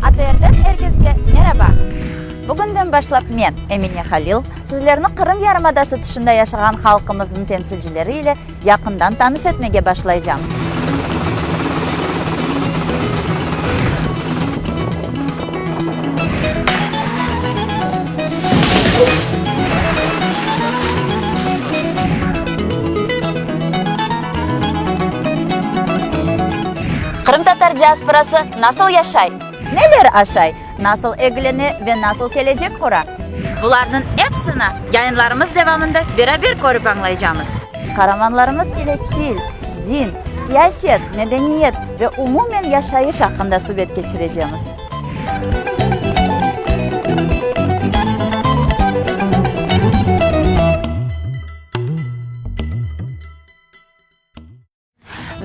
ATRden er keske meraba! Bugünden başlap men, Emine Halil, sizlerni Qırım yarımadası tışında yaşağan halqımıznıñ temsilcileri ile yaqından tanış etmege başlaycam. Qırımtatar diasporası nasıl yaşay? Neler aşay, nasıl egilene ve nasıl kelecek qura? Bularnıñ epsini yayınlarımız devamında beraber körip añlaycamız. Qaramanlarımız ile til, din, siyaset, medeniyet ve umumen yaşayış aqqında subet keçirecemiz.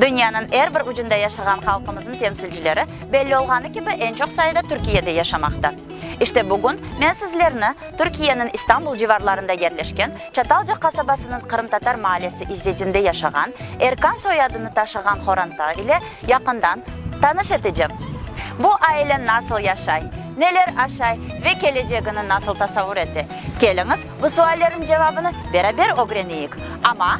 Dünyanıñ er bir ucunda yaşağan halqımıznıñ temsilcileri, belli olğanı kibi, eñ çoq sayıda Türkiyede yaşamaqta. İşte bugün men sizlerni Türkiyeniñ İstanbul civarlarında yerleşken Çatalca qasabasınıñ qırımtatar maallesi İzzetinde yaşağan, Erkan soyadını taşığan Horanta ile yaqından tanış eticem. Bu aile nasıl yaşay, neler aşay ve kelecegini nasıl tasavur ete? Keliñiz, bu suallerniñ cevabını beraber ögreneyik. Amma.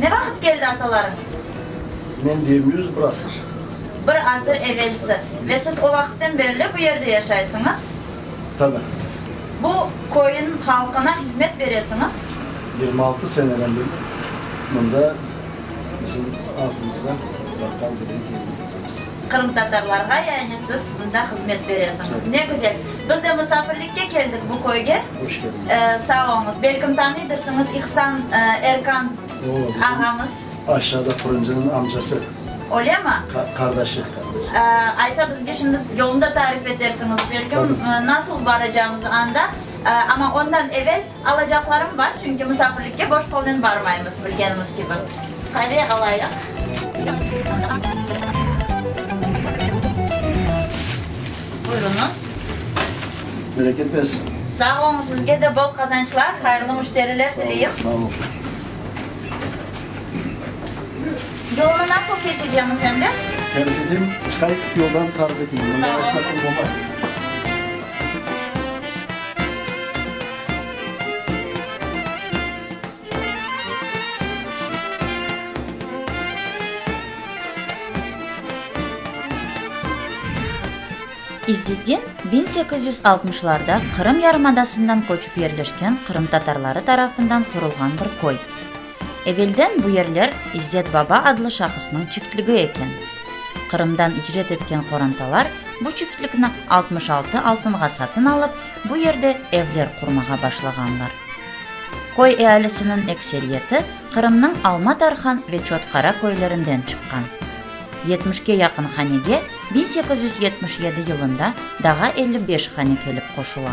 Ne vaqıt keldi atalarıñız? Men deyim, yüz bir asır. Bir asır evelsi. Ve siz o vaqıttan berli bu yerde yaşaysıñız? Tabii. Bu köyün halqına hizmet beresiñiz? Yirmi altı seneden berli mında bizim adımızğa baqqal bilen temin etemiz. Qırımtatarlarğa yani siz mında hızmet beresiñiz. Ne güzel. Biz de musafirlikke keldik bu köyge. Hoş keldiñiz. Sağ olunız. Belkim tanıydırsıñız, İhsan Erkan ağamız. Aşağıda fırıncınıñ amcası. Ölemi? Qardaşı. Aysa bizge şimdi yolunda tarif etersiñiz belkim nasıl baracağımızı anda. Amma ondan evel Alacaqlarım bar, çünki musafirlikke boş qolnen barmaymız, bilgenimiz kibi. Qave alayıq. Buyruñız. Bereket bersin. Sağ olun, sizge de bol qazançlar, hayırlı müşteriler tileyim. Sağ olun. Yolnı nasıl keçecemiz endi? Tarif eteyim, çıqay yoldan tarif eteyim. Sağ olun. İzzetdin, biñ sekiz yüz altmışlarda Qırım yarımadasından köçip yerleşken qırımtatarları tarafından qurulğan bir köy. Evelden bu yerler İzzet baba adlı şahısnıñ çiftligi eken. Qırımdan icret etken qorantalar bu çiftlikni altmış altı altınğa satın alıp, bu yerde evler qurmağa başlağanlar. Köy ealisiniñ ekseriyeti Qırımnıñ Alma-Tarhan ve Çotqara köylerinden çıqqan. Yetmişke yaqın hanege biñ sekiz yüz yetmiş yedi yılında daha elli beş hane kelip qoşula.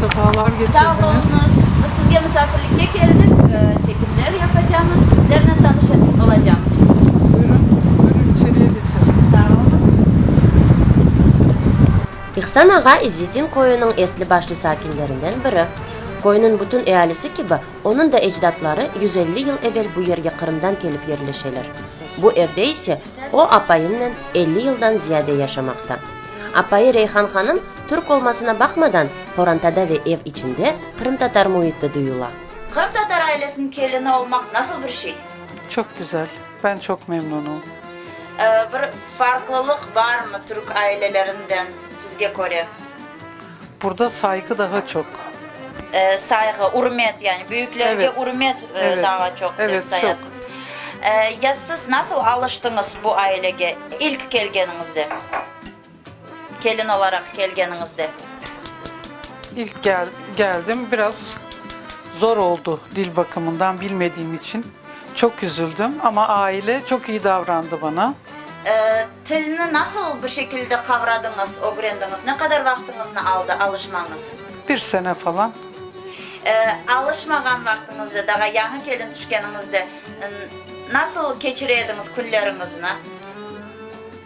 Safalar getirdiniz. Sizge misafirlikke keldik, çekimler yapacamız, sizlernen tanış olacamız. Buyurun, buyurun, içeriye geçelim. Sağ olunız. İhsan ağa İzzetdin köyüniñ esli-başlı sakinlerinden biri. Köyniñ bütün ealisi kibi, onıñ da ecdatları yüz elli yıl evel bu yerge Qırımdan kelip yerleşeler. Bu evde ise o apayınnen elli yıldan ziyade yaşamaqta. Apayı Reyhan hanım, türk olmasına baqmadan, qorantada ve ev içinde qırımtatar müiti duyula. Qırımtatar ailesiniñ kelini olmaq nasıl bir şey? Çoq güzel. Ben çoq memnunım. Bir farqlılıq barmı türk ailelerinden sizge köre? Burda sayqı daha çoq. Sayqı, ürmet, yani büyüklerge ürmet daha çoq dep sayasız. Ya siz nasıl alıştıñız bu ailege ilk kelgeniñizde, kelin olaraq kelgeniñizde? İlk geldim, biraz zor oldu, dil bakımından bilmediğim içün. Çoq üzüldim, amma aile çoq iyi davrandı bana. Tilni nasıl bir şekilde qavradıñız, ögrendiñiz? Ne qadar vaqtıñıznı aldı alışmañız? Bir sene falan. Alışmağan vaqtıñızda, daha yañı kelin tüşkeniñizde nasıl keçire ediñiz künleriñizni?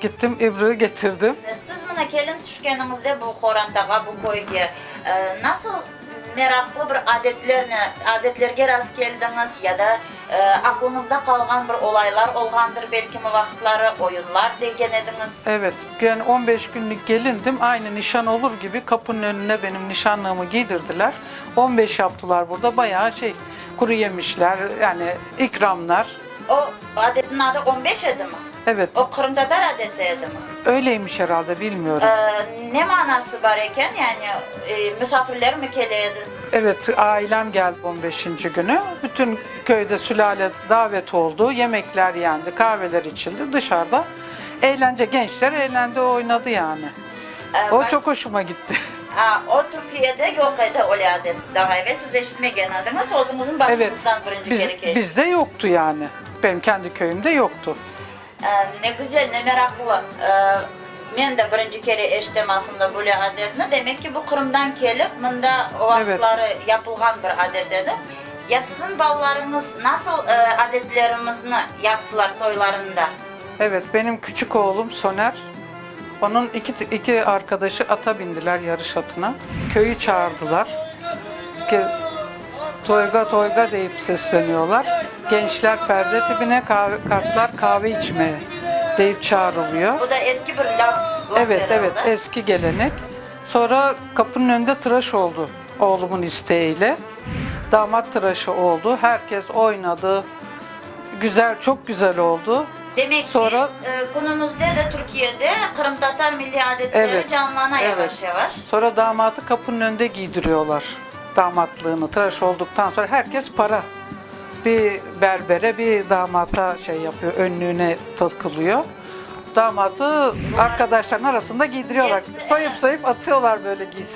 Gittim, İbri getirdim. Siz mına kelin tüşkeniñizde bu qorantağa, bu köyge nasıl meraqlı bir adetlerni, adetlerge rastkeldiñiz ya da aqlıñızda qalğan bir olaylar olğandır belkimi vaqıtları, oyunlar degen ediñiz? Evet, yani on beş künlik gelindim, aynı nişan olur kibi qapınıñ önüne benim nişanlığımı kiydirdiler, on beş yaptılar burda, bayağı şey, quruyemişler, yani ikramlar. O adetniñ adı on beş edimi? Evet. O qırımtatar adeti edimi? Öyleymiş heralde, bilmiyorum. Ne manası bar eken, yani misafirlermi kele edi? Evet, ailem geldi on beşinci günü. Bütün köyde sülâle davet oldu, yemekler yendi, kahveler içildi, dışarıda eğlence, gençler eğlendi, oynadı yani. O çoq hoşuma gitti. A, o Türkiyede yoq edi öyle adet. Daha evel siz eşitmegen ediñiz, özüñizin başıñızdan birinci kere keçti. Evet, biz, bizde yoqtu yani. Benim kendi köyümde yoqtu. Ne güzel, ne meraqlı. Men de birinci kere eşitem aslında böyle adetni. Demek ki, bu Qırımdan kelip, mında o vaqıtları yapılğan bir adet edi. Ya siziñ balalarıñız nasıl adetlerimizni yaptılar toylarında? Evet, benim küçük oğlum Soner Onıñ iki arqadaşı ata bindiler yarış atına. Köyü çağırdılar. Toyga, toyga deyip sesleniyorlar. Gençler perde tibine, kartlar kahve içmeye deyip çağırılıyor. Bu da eski bir lâf. Evet, evet, eski gelenek. Sonra qapınıñ önünde tıraş oldu oğlumun isteğiyle. Damat tıraşı oldu. Herkes oynadı. Güzel, çoq güzel oldu. Demek ki, künümüzde de Türkiyede qırımtatar milliy adetleri canlana yavaş-yavaş. Sonra damatı qapınıñ önünde giydiriyorlar, damatlığını, tıraş oldıqtan sonra her kes para, bir berbere, bir damata şey yapıyor, önlüğüne tırkılıyor, damatı arkadaşlarınıñ arasında giydiriyorlar, soyup-soyup atıyorlar böyle giysin.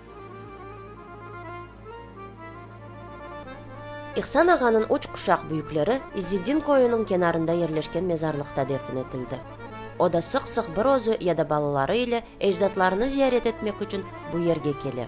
İhsan ağanıñ üç quşaq büyükleri İzzeddin köyüniñ kenarında yerleşken mezarlıqta defin etildi. O da sıq-sıq bir özü ya da balaları ile ecdatlarını ziyaret etmek içün bu yerge kele.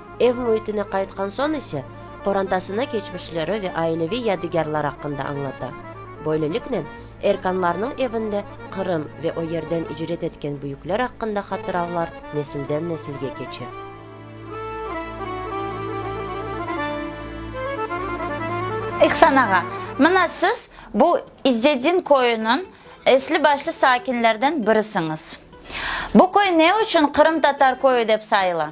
Ev müitine qaytqan soñ ise, qorantasına keçmişleri ve aileviy yadigârlar aqqında añlata. Böyleliknen, Erkanlarnıñ evinde Qırım ve o yerden icret etken büyükler aqqında hatıravlar nesilden-nesilge keçe. İhsan ağa, mına siz bu İzzedin köyüniñ esli-başlı sakinlerden birisiñiz. Bu köy ne içün Qırımtatar köyü dep sayıla?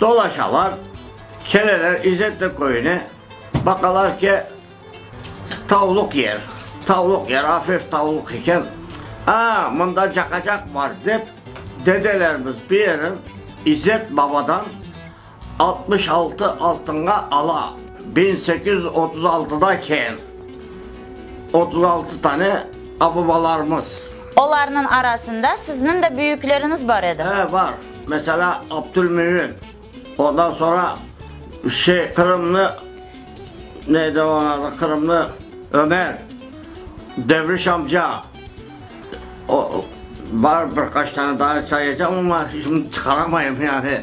Dolaşalar, keleler İzzetli köyüne, baqalar ki, tavluq yer, tavluq yer, afif tavluq eken. A, mında caqacaq bar, dep, dedelerimiz bir yerin İzzet babadan altmış altı altınğa ala. Biñ sekiz yüz otuz altıda ken, otuz altı tane ababalarımız. Olarnıñ arasında sizniñ de büyükleriñiz bar edi. He, bar. Mesela, Abdülmümün, ondan soñra şey, Qırımnı, ne edi onıñ adı, Qırımnı Ömer, Devriş amca, o, bar bir qaç tane daa sayacağım, amma şimdi çıqaramayım yani.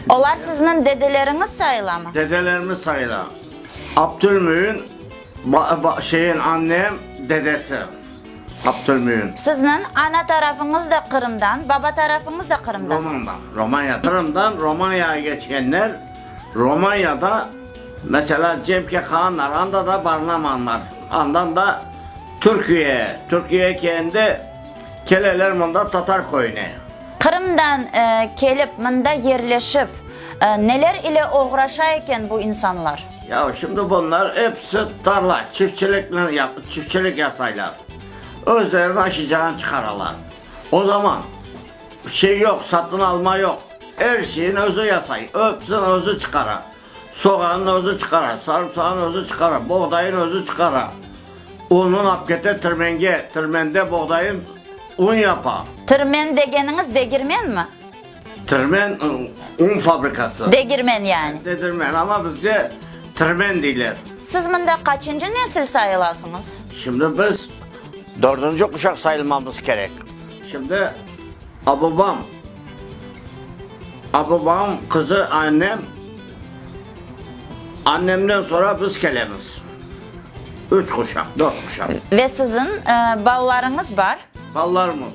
Olar sizniñ dedeleriñiz sayılamı? Dedelerimiz sayıla. Abdülmümün, ba, ba, şeyin, annem, dedesi. Qaptırmayın. Sizniñ ana tarafıñız da Qırımdan, baba tarafıñız da Qırımdan? Romandan, Romanya. Qırımdan Romanyaya keçkenler, Romanyada, meselâ, Cemke Kaan Naranda da barınamanlar. Andan da Türküye, Türküye kende keleler mında Tatar köyüne. Qırımdan kelip, mında yerleşip, neler ile oğraşa eken bu insanlar? Ya şimdi bunlar episi tarla, çiftçiliknen yap, çiftçilik yasaylar. Özlerini aşıcağan çıqaralar. O zaman şey yoq, satın alma yoq. Er şeyin özü yasay, epsin özü çıqara. Soğanın özü çıqara, sarımsağın özü çıqara, boğdayın özü çıqara. Unun ap kete tirmenge, tirmende boğdayın un yapa. Tirmen degeniñiz degirmenmi? Tirmen, un fabrikası. Degirmen yani. Dedirmen, amma bizde tirmen deyler. Siz mında qaçıncı nesil sayılasıñız? Şimdi biz dördünci quşaq sayılmamız kerek. Şimdi ababam, ababam qızı annem, annemden soñra biz kelemiz. Üç quşaq, dört quşaq. Ve siziñ balalarıñız bar? Balalarımız.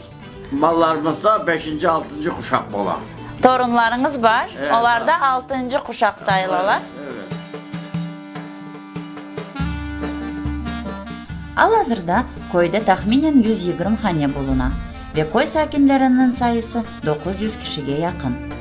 Mallarımızda beşinci, altıncı quşaq ola. Torunlarıñız bar, olar da altıncı quşaq sayılalar. Al-azırda köyde tahminen yüz yigirmi hane buluna ve köy sakinleriniñ sayısı doquz yüz kişige yaqın.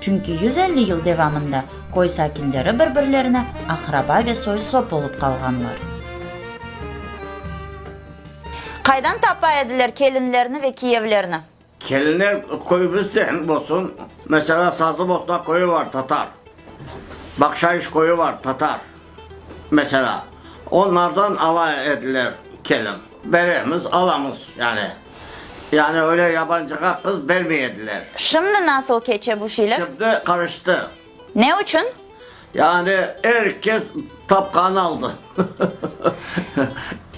Çünki yüz elli yıl devamında köy sakinleri bir-birlerine aqraba ve soy-sop olıp qalğanlar. Qaydan tapa ediler kelinlerni ve kiyevlerni? Kelinler köyümüzden olsun, mesela, Sazlıbosna köyü var, tatar, Bakşayış köyü var, tatar, mesela, onlardan ala ediler kelin. Beremiz, alamız, yani. Yani öyle yabancığa qız bermey ediler. Şimdi nasıl keçe bu şeyler? Şimdi qarıştı. Ne içün? Yani er kes tapqanı aldı.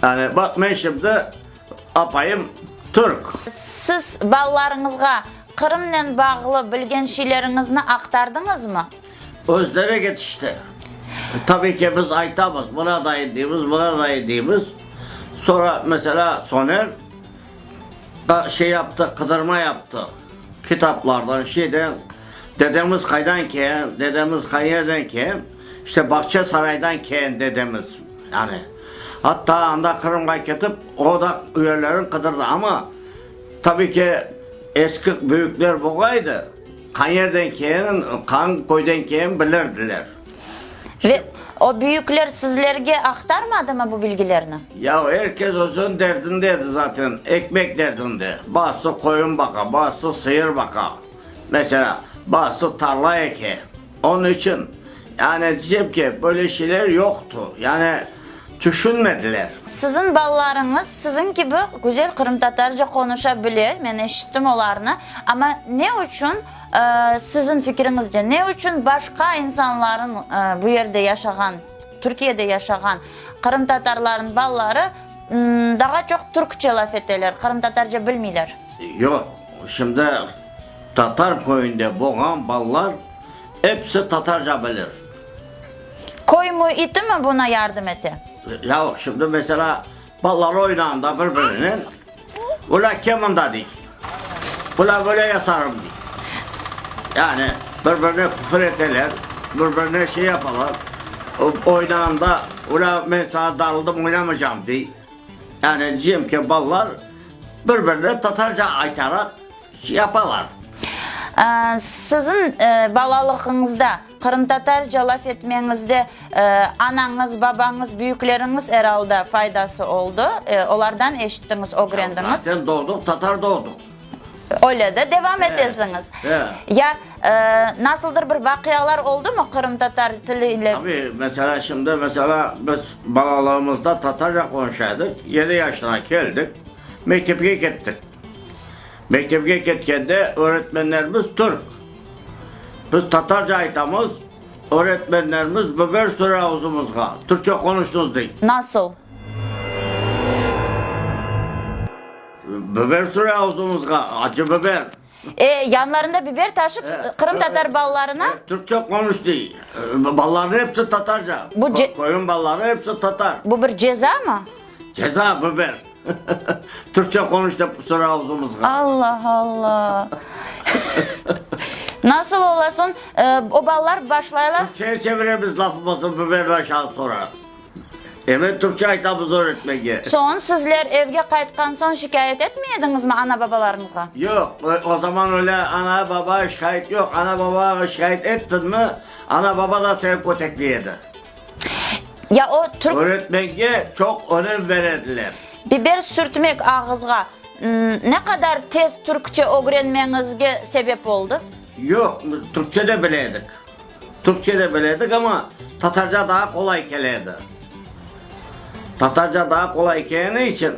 Yani baq, men şimdi apayım türk. Siz balalarıñızğa Qırımnen bağlı bilgen şeyleriñizni aqtardıñızmı? Özleri ketişti. Tabii ki, biz aytamız, buna dayı deymiz, buna dayı deymiz. Sonra, mesela, Soner da şey yaptı, qıdırma yaptı kitaplardan, şeyden. Dedemiz qaydan ken, dedemiz qayerden ken? İşte Bağçasaraydan ken dedemiz. Yani, hatta anda Qırımğa ketip, o da yerlerini qıdırdı. Ama, tabii ki, eski büyükler boğaydı. Qayerden kelin, qangi köyden kelin bilirdiler. Ve o büyükler sizlerge aqtarmadımı bu bilgilerni? Yav, er kes özüniñ derdinde edi zaten, ekmek derdinde. Bazısı qoyun baqa, bazısı sıyır baqa, mesela, bazısı tarla eke. Onıñ içün, yani, diycem ki, böyle şeyler yoqtu, yani, tüşünmediler. Siziñ balalarıñız siziñ kibi güzel qırımtatarca qonuşa bile, men eşittim olarnı, amma ne içün, siziñ fikiriñizce, ne içün başqa insanlarıñ, bu yerde yaşağan, Türkiyede yaşağan qırımtatarlarıñ balaları daha çoq türkçe laf eteler, qırımtatarca bilmeyler? Yoq, şimdi, Tatar köyünde boğan ballar episi tatarca bilir. Köy müiti mi buna yardım ete? Yauq, şimdi mesela ballar oynağında bir-birinen, Ula ke mında dey, ula böyle yasarım dey. Yani bir-birine küfür eteler, bir-birine şey yapalar. Oynağında ula men saña darıldım oynamaycam dey. Yani diycem ki, ballar bir-birine tatarca aytalar. yapalar. Siziñ balalıgıñızda, qırımtatarca laf etmeñizde anañız, babañız, büyükleriñiz, eralda, faydası oldı, olardan eşittiñiz, ögrendiñiz. Zaten doğdıq, tatar doğdıq. Öyle de devam etesiñiz. Ya nasıldır bir vaqialar oldumı qırımtatar tili ile? Tabii, mesela şimdi, mesela biz balalığımızda tatarca qonuşa edik, yedi yaşına keldik. Mektepke kettik. Mektepke ketkende öğretmenlerimiz türk. Biz tatarca aytamız, öğretmenlerimiz biber süre ağzımızğa, türkçe qonuşnız dey. Nasıl? Biber süre ağzımızğa, acı biber. E, yanlarında biber taşıp, qırımtatar balalarına. E, türkçe qonuş dey. E, balaları epsi tatarca. Bu ce. Koyun balaları epsi tatar. Bu bir ceza mı? Ceza, biber. Türkçe konuş dep kusura ağzımızga. Allah Allah. Nasıl olasın? E, o balalar başlaylar. Türkçeye çeviremiz lafımızı biberden aşağı sonra. Eve türkçe aytamız öğretmege. Soñ sizler evge qaytqan soñ şikâyet etmey ediñizmi ana-babalarıñızğa? Yoq, o zaman öyle ana-baba şikâyet yoq. Ana-babağa şikâyet ettiñmi, ana-baba da seni kötekley edi. Ya o türk. Öğretmege çoq önem ber ediler. Biber sürtmek ağızğa ne qadar tez türkçe ögrenmeñizge sebep oldı? Yoq, türkçe de bile edik. Türkçe de biledik, amma tatarca daa qolay kele edi. Tatarca daa qolay keleni içün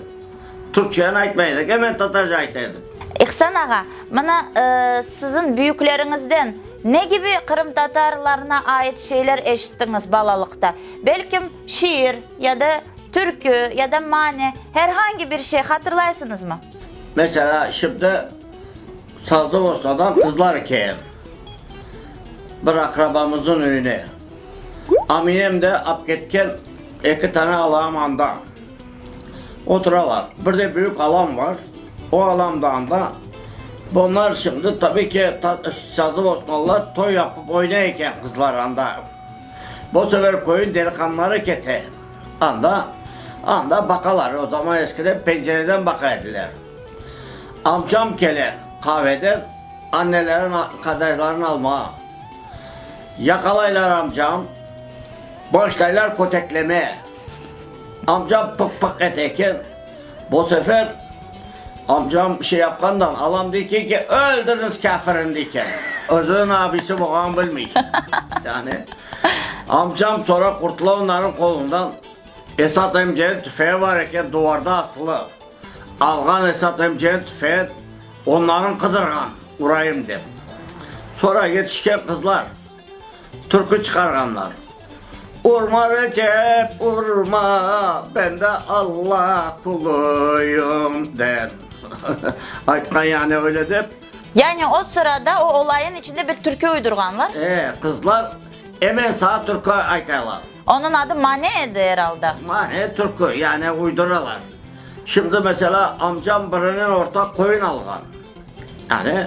türkçeni aytmay edik, emen tatarca ayta edik. İhsan ağa, mına, siziñ büyükleriñizden ne kibi qırımtatarlarına ait şeyler eşittiñiz balalıqta? Belkim, şiir ya da türkü ya da mane, her hangi bir şey hatırlaysıñızmı? Mesela, şimdi, Sazlıostadan qızlarken bir aqrabamızın öyüne Aminem de apketken eki tane alağam anda oturalar. Bir de büyük alam var, o alam da anda. Bunlar şimdi tabi ki, sazlıostalılar toy yapıp oynay eken qızlar anda. Bu sefer köyün deliqanları kete anda, anda baqalar. O zaman eskiden pencereden baqa ediler. Amcam kele qaveden annelerin qadaylarını almağa. Yaqalaylar amcam, başlaylar köteklemeye. Amcam pıq-pıq ete eken, bu sefer amcam şey yapqandan alam dey eken ki, öldüriniz kâfirin dey eken. Özüniñ abisi bolğanını bilmey. Yani amcam sonra qurtula onların qolundan. Esat emcenin tüfeği bar eken, duvarda asılı. Alğan esatım cen tüfet, onların qıdırğan urayım dep. Sonra yetişken qızlar türkü çıqarğanlar, Urma Recep, urma, ben de Alla quluyım, den. Aytqan yani öyle dep. Yani o sırada o olayın içinde bir türkü uydurğanlar. E, qızlar emen saat türkü aytaylar. Onıñ adı Mane edi, eralda. Mane, türkü, yani uyduralar. Şimdi, mesela, amcam birinen ortaq qoyun alğan. Yani,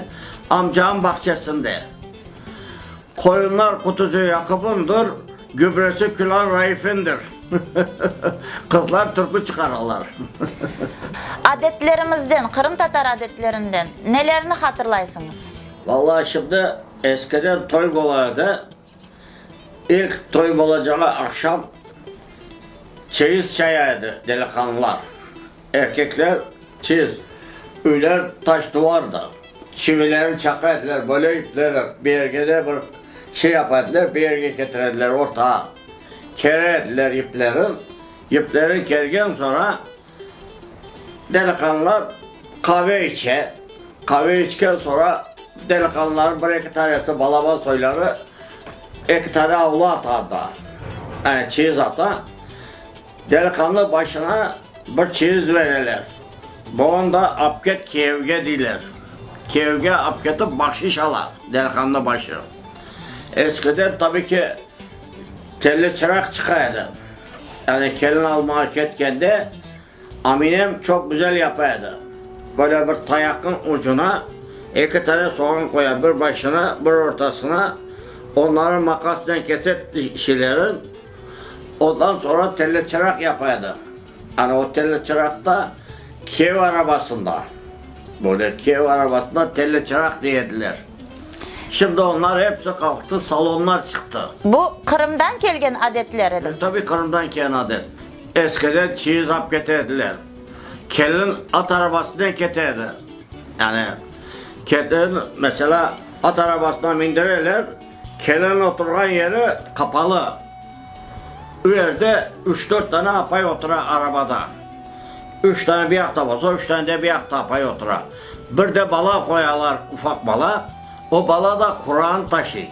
amcamın bağçasında. Qoyunlar Qutucı Yaqubındır, gübresi Külan Raifindir. Qızlar türkü çıqaralar. Adetlerimizden, qırımtatar adetlerinden nelerni hatırlaysıñız? Vallahi, şimdi, eskiden toy bola edi, İlk toy bolacağı aqşam çeyiz çaya edi, deliqanlılar, erkekler çeyiz, üyler taş-tuvardı, çivilerin çaqa ediler, böyle ipleri bir yerge de bir şey yapa ediler, bir yerge ketire ediler, ortağa kere ediler iplerin, ipleri kergen soñra, Deliqanlar qave içe. Qave içken soñra deliqanların bir eki tanesi balaban soyları eki tane avlu ata da, yani çiyiz ata. Deliqanlı başına bir çiyiz bereler. Boğan da apket kiyevge deyler. Kiyevge apketip bahşiş ala deliqanlı başı. Eskiden tabi ki telli çıraq çıqa edi. Yani kelin almağa ketkende aminem çoq güzel yapa edi. Böyle bir tayaqnıñ ucuna eki tane soğan qoya, bir başına, bir ortasına, onları maqasnen kese şeylerin, ondan soñra telli çıraq yapa edi. Ana o telli çıraqta kiyev arabasında, böyle kiyev arabasında telli çıraq dey ediler. Şimdi onlar epsi qalqtı, salonlar çıqtı. Bu Qırımdan kelgen adetler edi. Tabii Qırımdan kelgen adet. Eskiden çeyiz alıp kete ediler. Kelin at arabasınen kete edi. Yani kelin, mesela, at arabasına mindireler, kelin oturğan yeri qapalı. O yerde üç-dört tane apay otura arabada. Üç tane bir yaqta bolsa, üç tane de bir yaqta apay otura. Bir de bala qoyalar, ufaq bala. O bala da Quran taşıy.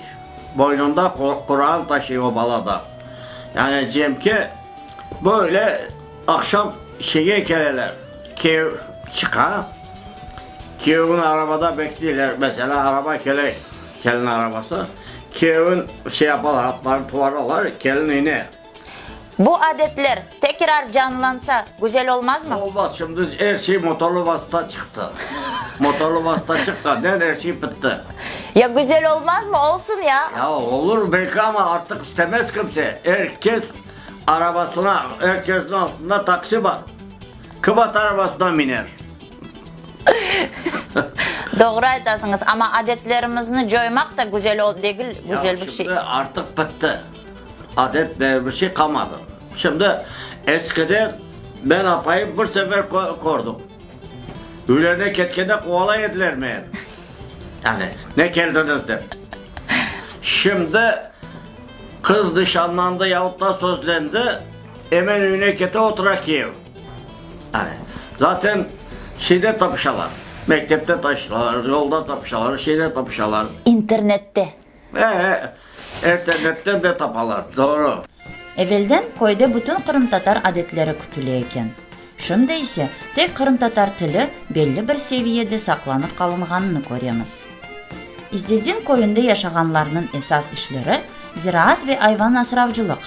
Boynunda Quran taşıy o bala da. Yani cemki böyle aqşam şeye keleler, küyev çıqa, küyevin arabada bekleyler. Mesela araba kele, kelin arabası. Küyevin şey yapalar, atlarını tuvaralar, kelin ine. Bu adetler tekrar canlansa güzel olmazmı? Olmaz, şimdi er şey motorlı vasıta çıqtı. Motorlı vasıta çıqqannen er şey bitti. Ya güzel olmazmı? Olsun ya. Ya olur belki ama artıq istemez kimse. Er kes arabasına, er kesniñ altında taksi bar. Kim at arabasına miner? Doğru aytasıñız, amma adetlerimizni coymaq da güzel degil, güzel bir şey. Ya şimdi artıq bitti. Adet diye bir şey qalmadı. Şimdi eskide men apayım bir sefer kördim. Üylerine ketkende quvalay ediler meni. Yani ne keldiniz dep. Şimdi qız nişanlandı yahut da sözlendi, emen üyüne kete otura kiyev. Yani zaten şeyde tapışalar, mektepte tapışalar, yolda tapışalar, şeyde tapışalar. İnternette. Ee, erterlekten de tapalar, doğru. Evelden köyde bütün qırımtatar adetleri kütüle eken. Şimdi ise tek qırımtatar tili belli bir seviyede saqlanıp qalınğanını köremiz. İzzedin köyünde yaşağanlarnıñ esas işleri, ziraat ve ayvan asravcılıq.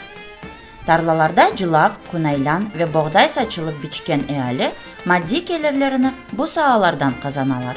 Tarlalarda cılav, kunaylan ve boğday saçılıp biçken eali maddiy kelirlerini bu saalardan qazanalar.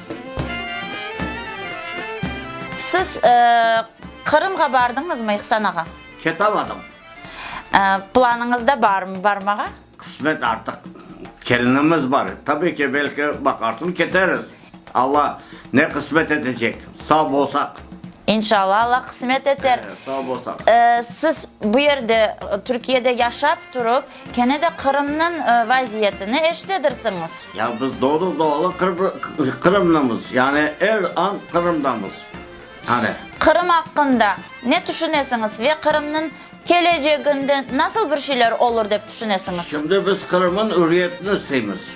Siz Qırımğa bardıñızmı, İhsan ağa? Ketamadım. Planıñızda barmı barmağa? Qısmet artıq. Kelinimiz bar. Tabii ki, belki baqarsın, keteriz. Alla ne qısmet etecek, sağ bolsaq. İnşalla, Alla qısmet eter. Sağ bolsaq. Siz bu yerde, Türkiyede yaşap turıp, Kene de Qırımnıñ vaziyetini eşitedirsiñiz. Yani biz doğru-doğru Qırımlımız, yani er an Qırımdamız. Qani. Qırım aqqında ne tüşünesiñiz ve Qırımnıñ keleceginde nasıl bir şeyler olur dep tüşünesiñiz? Şimdi biz Qırımnıñ ürriyetini isteymiz.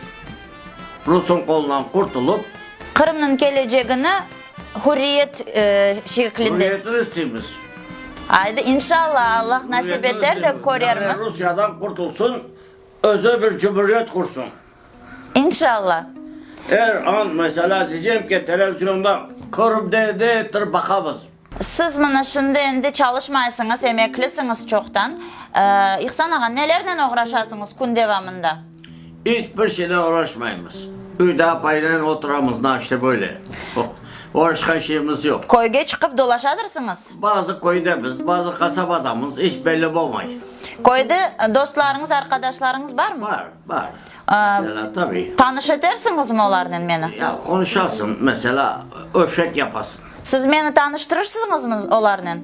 Rusıñ qolundan qurtulıp. Qırımnıñ kelecegini Hürriyet şeklinde. Hürriyetini isteymiz. Aydı, inşallah, Allah nasip eter de körermiz. Yani Rusiyadan qurtulsun, özü bir cumhuriyet qursun. İnşallah. Er an, mesela, diycem ki, televizionda körüp de, de ettirip baqamız. Siz mına şimdi endi çalışmaysıñız, emeklisiñiz çoqtan. İhsan ağa, nelernen oğraşasıñız kün devamında? İç bir şeyle uğraşmaymız. Öyde apaynen oturamız, naşte böyle. Uğraşqan şeyimiz yoq. Köyge çıqıp dolaşadırsıñız? Bazı köydemiz, bazı qasabadamız, iç belli bolmay. Köyde dostlarıñız, arqadaşlarıñız barmı? Bar, bar. Mesela, tabii. Tanış etersiñizmi olarnen meni? Ya, qonuşasıñ, mesela, öşek yapasıñ. Siz meni tanıştırırsıñızmı olarnen?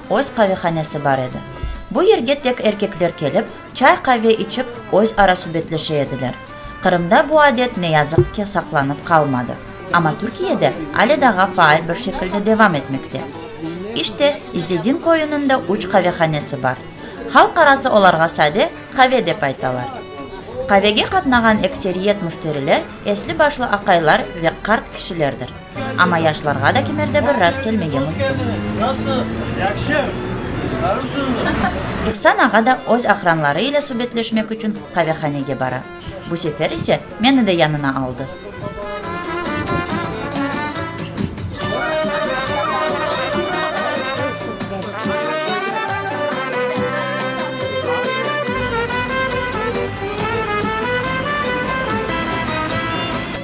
öz qavehanesi bar edi. Bu yerge tek erkekler kelip, çay-qave içip, özara subetleşe ediler. Qırımda bu adet, ne yazıq ki, saqlanıp qalmadı. Amma Türkiyede ale daha faal bir şekilde devam etmekte. İşte, İzzedin köyüniñ de üç qavehanesi bar. Halq arası olarğa sade qave dep aytalar. Qavege qatnağan ekseriyet müşteriler esli-başlı aqaylar ve qart kişilerdir. Amma yaşlarğa da kimerde bir rast kelmege mümkün. İhsan ağa da öz aqranları ile subetleşmek içün qavehanege bara. Bu sefer ise meni de yanına aldı.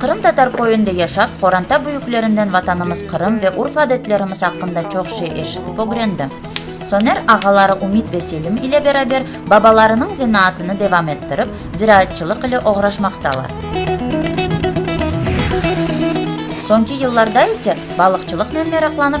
Qırım Tatar köyünde yaşap, qoranta büyüklerinden Vatanımız Qırım ve urf-adetlerimiz aqqında çoq şey eşitip ögrendim. Soner ağaları Ümit ve Selim ile beraber babalarınıñ zenaatını devam ettirip, ziraatçılıq ile oğraşmaqtalar. Soñki yıllarda ise balıqçılıqnen meraqlanıp,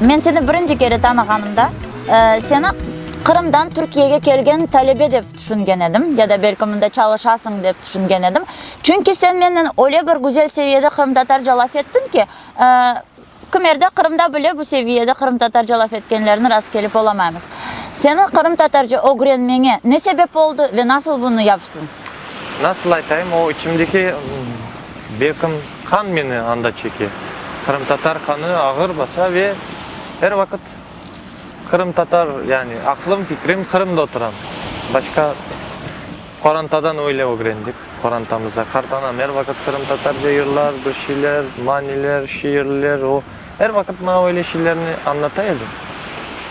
Men seni birinci kere tanığanımda, seni Qırımdan Türkiyege kelgen talebe dep tüşüngen edim, ya da belki mında çalışasıñ dep tüşüngen edim. Çünki sen menen öyle bir güzel seviyede qırımtatarca laf ettiñ ki, Kimerde Qırımda bile bu seviyede qırımtatarca laf etkenlerni rast kelip olamaymız. Seniñ qırımtatarca ögrenmeñe ne sebep oldı ve nasıl bunı yaptın? Nasıl aytayım, o içimdeki, belkim, qan meni anda çeke. Qırımtatar qanı ağır basa ve er vaqıt qırımtatar, yani aqlım, fikrim Qırımda oturam. Başqa. Qorantadan öyle ögrendik. Qorantamızda qart anam er vaqıt qırımtatarca yırlar, bir şeyler, maniler, şiirler. O, er vaqıt maña öyle şeylerni añlata edi.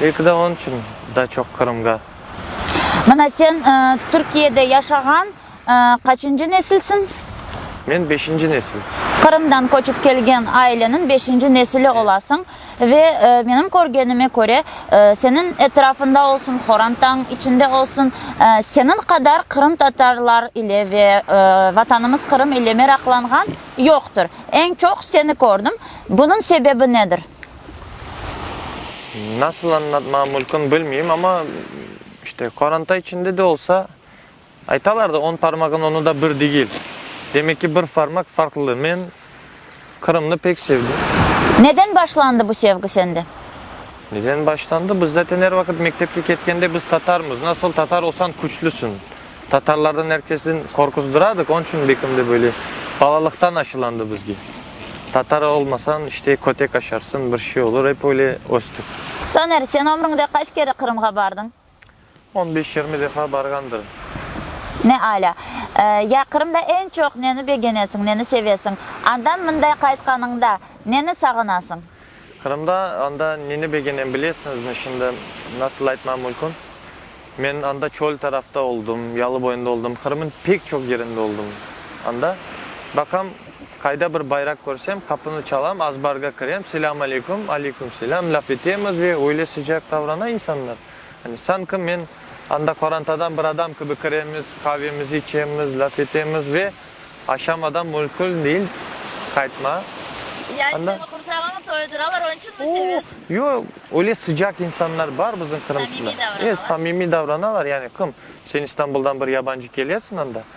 Belki de onıñ içün daa çoq Qırımğa. Mana sen Türkiyede yaşağan qaçıncı nesilsiñ? Men beşinci nesil. Qırımdan köçip kelgen aileniñ beşinci nesili olasıñ. Ve menim körgenime köre, seniñ etrafında olsun, Xorantañ içinde olsun, seniñ qadar qırımtatarlar ile ve Vatanımız Qırım ile meraqlanğan yoqtır. Eñ çoq seni kördim. Bunıñ sebebi nedir? Nasıl añlatmam mülkün, bilmeyim, amma, işte, Qoranta içinde de olsa, Aytalar da, on parmağın onı da bir degil. Demek ki, bir farmaq farqlı. Men Qırımnı pek sevdim. Neden başlandı bu sevgi sende? Neden başlandı? Biz zaten er vaqıt mektepke ketkende biz tatarmız. Nasıl tatar olsan küçlüsin. Tatarlardan er kesden qorquzdıradiq. Onıñ içün bekim de böyle balalıqtan aşılandı bizge. Tatar olmasañ işte kötek aşarsıñ, bir şey olur. Ep öyle östük. Soner, sen ömrüñde qaç kere Qırımğa bardıñ? On beş-yirmi defa barğandır. Ne alâ. Ya Qırımda eñ çoq neni begenesiñ, neni sevesiñ? Andan mınday qaytqanıñda, neni sağınasıñ? Qırımda, anda neni begenem bilesiñizmi? Şimdi, nasıl aytmam mülkün? Men anda çöl tarafta oldım, yalı boyunda oldım, Qırım'ın pek çoq yerinde oldım. Anda, baqam. Qayda bir bayraq körsem, qapını çalam, azbarğa kirem, selâm aleyküm, aleyküm selâm, laf etemiz ve öyle sıcaq davrana insanlar. Yani sanki men anda qorantadan bir adam kibi kiremiz, qavemizi içemiz, laf etemiz ve aşam adam müşkül değil, qaytma. Yani Anda- seni qursağını toyuduralar, onun içün mü sevesiñ? O, yo, öyle sıcaq insanlar bar bizim Qırımda. Samimiy davranalar. E, samimiy davranalar, yani kim? Sen İstanbuldan bir yabancı kelesiñ anda.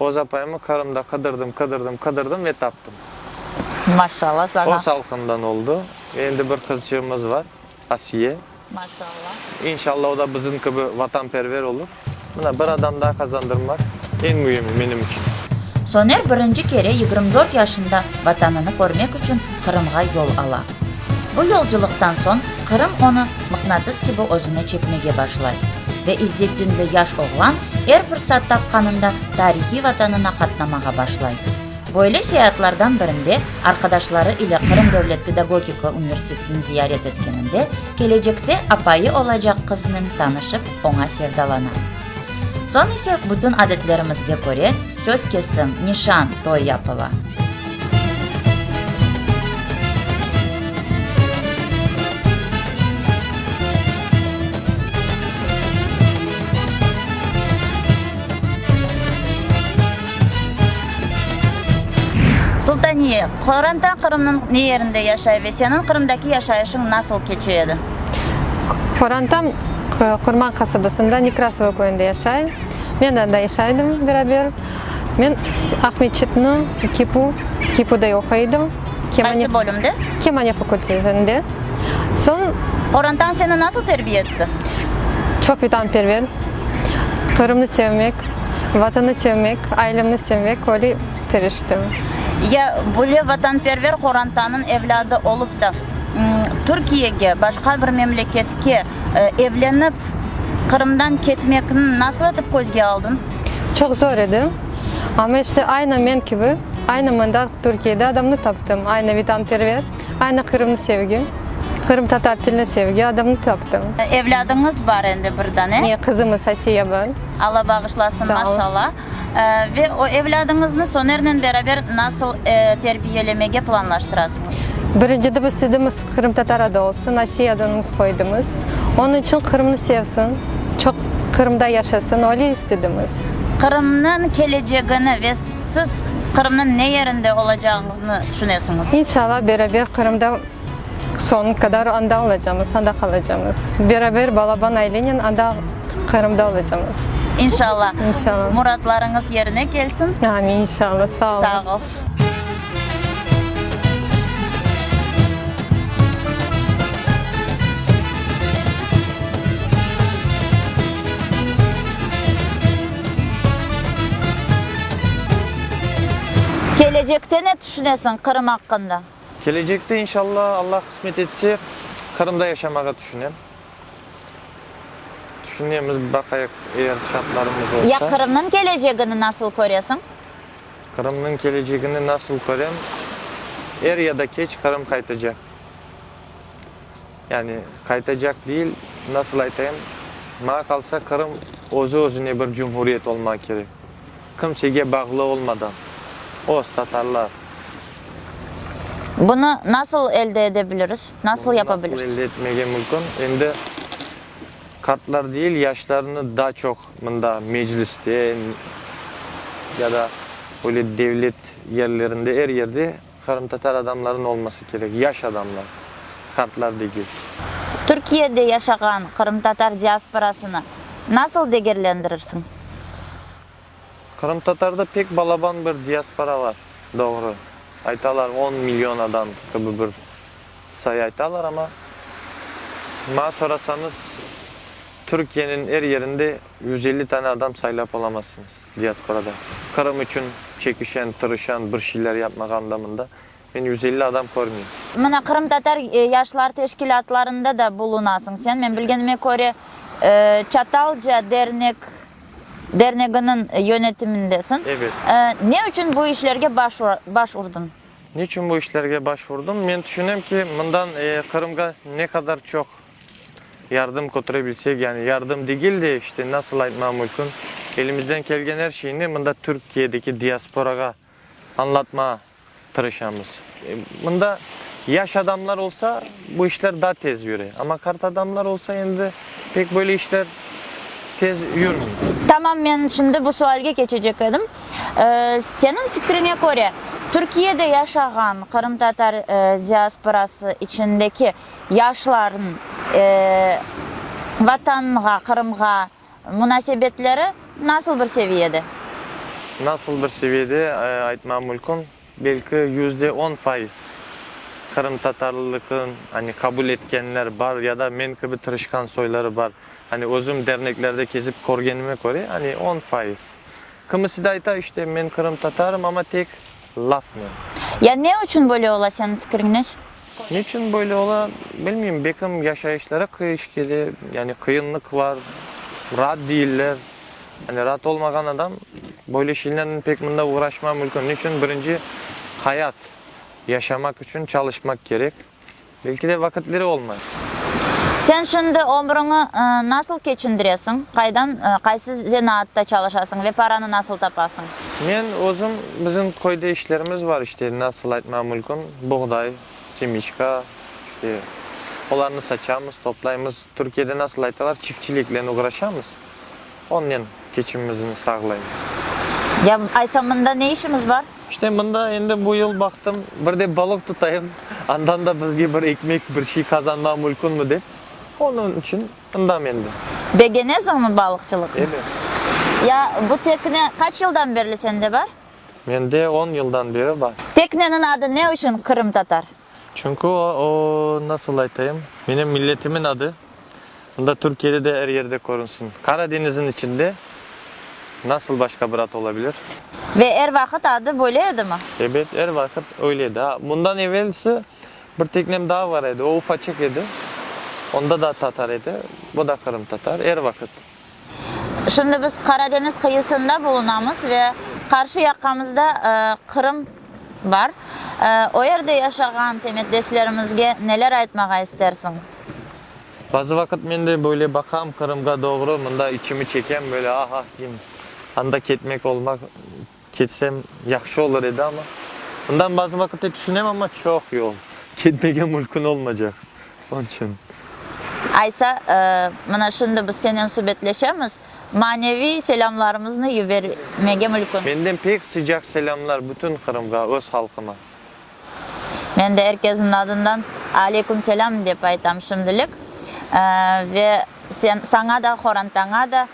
Öz apayımı Qırımda qıdırdım, qıdırdım, qıdırdım ve taptım. Maşallah saña. O salqından oldu. Endi bir qızçığımız var, Asiye. Maşallah. İnşallah o da bizim kibi vatanperver olur. Mına bir adam daa qazandırım var, eñ müimi menim içün. Soner birinci kere yigirmi dört yaşında Vatanını körmek içün Qırımğa yol ala. Bu yolculıqtan soñ Qırım onı mıqnatıs kibi özüne çekmege başlay ve İzzetdinli yaş oğlan er fırsat tapqanında tarihiy Vatanına qatnamağa başlay. Böyle seyaatlardan birinde arqadaşları ile Qırım devlet pedagogika universitetini ziyaret etkeninde kelecekte apayı olacaq qıznıñ tanışıp, oña sevdalana. Soñ ise bütün adetlerimizge köre söz kesim, nişan, toy yapıla. Sultaniye, qorantaq Qırımnıñ ne yerinde yaşay ve seniñ Qırımdaki yaşayışıñ nasıl keçe edi? Qorantam Qırman qasabasında Nekrasova köyünde yaşay. Men de anda yaşay edim beraber. Men Aqmescitni kipu kipuda oquy edim. Qaysı bölümde? Kemaniya fakultetinde. Soñ. Qorantam seni nasıl terbiye etti? Çoq vetanperver, Qırımnı sevmek, Vatanı sevmek, ailemni sevmek, öyle. tiriştim. Ya böyle vatanperver qorantanıñ evlâdı olıp da, Türkiyege, başqa bir memleketke evlenip, Qırımdan ketmekni nasıl etip közge aldıñ? Çoq zor edi. Amma işte aynı men kibi, aynı mındaq Türkiyede adamnı taptım, aynı vitanperver, aynı qırımnı sevgi, qırımtatar tilini sevgi adamnı taptım. Evlâdıñız bar endi bir dane? Ye, qızımız Asiye bar. Alla bağışlasın, maşallah. Ve o evlâdıñıznı Sonernen beraber nasıl terbiyelemege planlaştırasıñız? Birinci dep istedimiz qırımtatar adı olsun, Asiye adınıñz qoydımız. Onıñ içün Qırımnı sevsin, çoq Qırımda yaşasın, öyle istedimiz. Qırımnıñ kelecegini ve siz Qırımnıñ ne yerinde olacağıñıznı tüşünesiñiz? İnşallah beraber Qırımda. Soñu qadar anda olacamız, anda qalacamız. Beraber balaban ailenen anda Qırımda olacamız. İnşalla. İnşalla. Muratlarıñız yerine kelsin. Amin, inşalla. Sağ olunız. Sağ ol. Kelecekte ne tüşünesiñ Qırım aqqında? Kelecekte, inşalla, Alla qısmet etse, Qırımda yaşamağa tüşünem. Tüşünemiz, baqayıq, eğer şartlarımız olsa. Ya Qırımnıñ kelecegini nasıl köresiñ? Qırımnıñ kelecegini nasıl körem? Er ya da keç Qırım qaytacaq. Yani, qaytacaq deyil, nasıl aytayım, maña qalsa, Qırım özü-özüne bir cumhuriyet olmağı kerek. Kimsege bağlı olmadan öz tatarlar. Bunı nasıl elde edebiliriz? Nasıl yapabiliriz? Bunı nasıl elde etmege mümkün? Endi qartlar deyil, yaşlarnı daa çoq mında Mecliste ya da böyle devlet yerlerinde, er yerde Qırımtatar adamların olması kerek, yaş adamlar, qartlar degil. Türkiyede yaşağan qırımtatar diasporasını nasıl degerlendirirsiñ? Qırımtatarda pek balaban bir diaspora bar, doğru. Aytalar, on million adam kibi bir sayı aytalar, amma maña sorasañız, Türkiyeniñ er yerinde yüz elli tane adam saylap olamazsıñız. Diasporada Qırım içün çekişen, tırışan, bir şeyler yapmağa andamında men yüz elli adam körmeyim. Mına, qırımtatar yaşlar teşkilâtlarında da bulunasıñ sen. Men bilgenime köre, Çatalca dernek, derneginiñ yönetimindesiñ. Ebet. Ne içün bu işlerge baş, baş urdıñ? Ne içün bu işlerge baş urdım? Men tüşünem ki, mından Qırımğa ne qadar çoq. Yardım kötüre bilsek, yani yardım degil de, işte, nasıl aytmam mülkün, elimizden kelgen er şeyni mında Türkiyedeki diasporağa añlatmağa tırışamız. Mında yaş adamlar olsa, bu işler daa tez yüre. Amma qart adamlar olsa, endi pek böyle işler tez yürmey. Tamam, men şimdi bu sualge keçecek edim. Seniñ fikriñe köre, Türkiyede yaşağan qırımtatar diasporası içindeki yaşlarnıñ Vatanınğa, Qırımğa munasebetleri nasıl bir seviyede? Nasıl bir seviyede aytmam mülkün, belki yüzde on faiz qırımtatarlılıqnı qabul etkenler bar ya da men kibi tırışqan soyları bar. Özüm derneklerde kezip körgenime köre, on faiz. Kimisi de ayta, işte, men qırımtatarım, amma tek Laf mı? Ya ne uçün böyle ola, seniñ fikiriñnen? Ne uçün böyle ola? Bilmeyim, bekim yaşayışları qıyış kele, yani qıyınlıq bar, raat deyiller. Yani raat olmağan adam böyle şeylernen pek mında uğraşmav mülkün. Ne uçün? Birinci, hayat, yaşamaq uçün çalışmaq kerek. Belki de vaqıtları olmay. Sen şimdi ömrüñi nasıl keçindiresiñ? Qaydan, qaysı zenaatta çalışasıñ ve paranı nasıl tapasıñ? Men özüm, bizim köyde işlerimiz bar, işte, nasıl aytmam mülküm, buğday, semiçka, işte, olarnı saçamız, toplaymız. Türkiyede nasıl aytalar, çiftçiliklen oğraşamız. Onnen keçimimizni sağlaymız. Ya aysa mında ne işiñiz bar? İşte mında endi bu yıl baqtım, bir de balıq tutayım, andan da bizge bir ekmek, bir şey qazanma mülkünmi dep, onıñ içün mındam endi. Begeneziñmi balıqçılıqnı? Ebe. Ya bu tekne qaç yıldan berli sende bar? Mende on yıldan beri bar. Tekneniñ adı ne içün Qırımtatar? Çünki o, o, nasıl aytayım, menem milletimiñ adı, unda Türkiyede de er yerde körünsin. Qara deñizniñ içinde nasıl başqa bir at ola bilir? Ve er vaqıt adı böyle edimi? Ebet, er vaqıt öyle edi. A, bundan evelsi bir teknem daa bar edi, o ufaçıq edi, onda da tatar edi, o da qırımtatar, er vaqıt. Şimdi biz Qaradeñiz qıyısında bulunamız ve qarşı yaqamızda Qırım bar. O yerde yaşağan semetdeşlerimizge neler aytmağa istersiñ? Bazı vaqıt men de böyle baqam Qırımğa doğru, mında içimi çekem, böyle ah-ah deyim, anda ketmek olmaq Ketsem yahşı olur edi, amma. Bundan bazı vaqitte tüşünem, amma çoq yol. Ketmege mülkün olmacaq. Onıñ içün. Aysa, mına şimdi biz senen subetleşemiz, maneviy selâmlarımıznı yübermege mülkün. Menden pek sıcaq selâmlar bütün Qırımğa, öz halqıma. Men de er kesniñ adından Aleykümselam dep aytam şimdilik. Ve sen, saña da, Horantaña da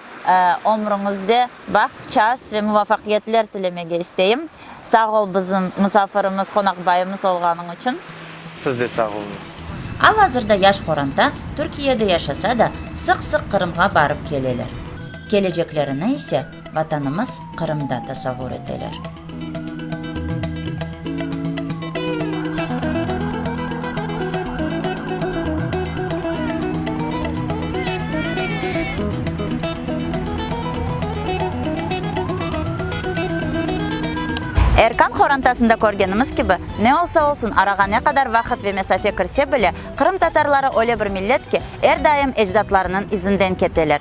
ömrüñizde baht, şast ve muvafaqiyetler tilemege isteyim. Sağ ol bizim musafirimiz, qonaqbayımız olğanıñ içün. Siz de sağ oluñız. Al-azırda yaş Horanta Türkiyede yaşasa da, sıq-sıq Qırımğa barıp keleler. Keleceklerini ise Vatanımız Qırımda tasavvur eteler. Erkan qorantasında körgenimiz kibi, ne olsa olsun, arağa ne qadar vaqıt ve mesafe kirse bile, qırımtatarları öyle bir millet ki, er daim ecdatlarınıñ izinden keteler.